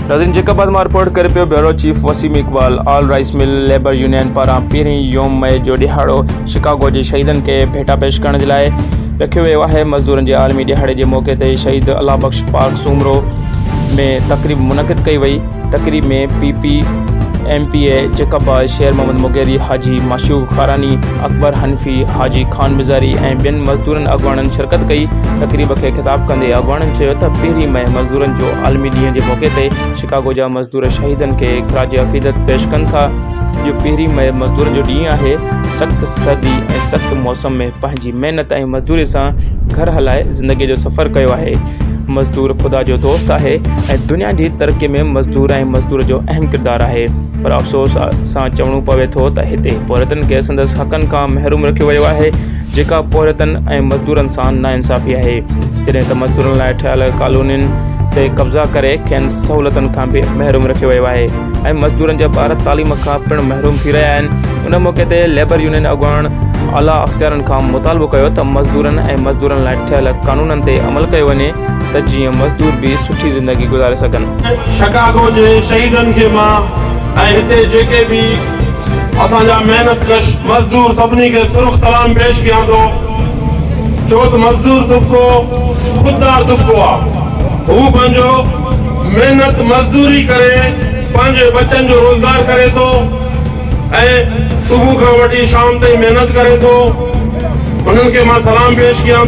ناظرين جيڪب بعد مان رپورٽ ڪري پيو bureau chief Waseem Iqbal all rice mill labour union پاران پهرين يوم مئي جو ڏيهاڙو شڪاگو جي شهيدن کي ڀيٽا پيش ڪرڻ جي لاء رکيو ويو آهي مزدورن جي عالمي ڏيهاڙي جي موقعي تي شهيد الله بخش پارڪ سومرو ۾ تقريب منعقد ڪئي وئي تقريب ۾ P P, M P A Jacobabad, Sher Muhammad Mugheri, حاجي معشوق خاراني، اڪبر حنفي، حاجي خان مزاري ۽ ٻين مزدورن اڳواڻن شرڪت ڪئي. تقريب کي خطاب ڪندي اڳواڻن چيو ته پهرين مئي مزدورن جو عالمي ڏينهن جي موقعي تي شڪاگو جا مزدور شهيدن کي خراج عقيدت پيش ڪن ٿا. اهو پهرين مئي مزدورن جو ڏينهن آهي، سخت سردي ۽ سخت موسم ۾ پنهنجي محنت ۽ مزدوري سان گهر هلائي زندگي جو سفر ڪيو آهي. مزدور خدا جو دوست آهي ۽ دنيا جي ترقي ۾ مزدور ۽ مزدور جو اهم ڪردار آهي پر افسوس سان چوڻو پوي ٿو ته هتي پورهيتن کي سندس حقن کان محروم رکيو ويو آهي جيڪا پورهيتن ۽ مزدورن سان ناانصافي آهي جڏهن ته مزدورن لاء ٺهيل ڪالونين تي قبضا ڪري کين سهولتن کان به محروم رکيو ويو آهي ۽ مزدورن جا ٻار تعليم کان پڻ محروم ٿي رهيا آهن ان موقعي تي ليبر يونين اڳواڻ اعليٰ اختيارن کان مطالبو ڪيو ته مزدورن ۽ مزدورن لاء ٺهيل قانونن تي عمل ڪيو وڃي ته جيئن مزدور به سٺي زندگي گذاري سگهن. شڪاگو جي شهيدن کي مان ۽ هتي جيڪي به اسان جا محنت ڪش مزدور سڀني کي سرخ سلام پيش ڪيان ٿو ڇوته مزدور طبقو خوددار طبقو آ هو پنهنجو محنت مزدوري ڪري پنهنجي ٻچن جو روزگار ڪري ٿو. ۽ صبح کان وٺي شام تائين محنت ڪري ٿو انهن کي مان سلام پيش ڪيان ٿو.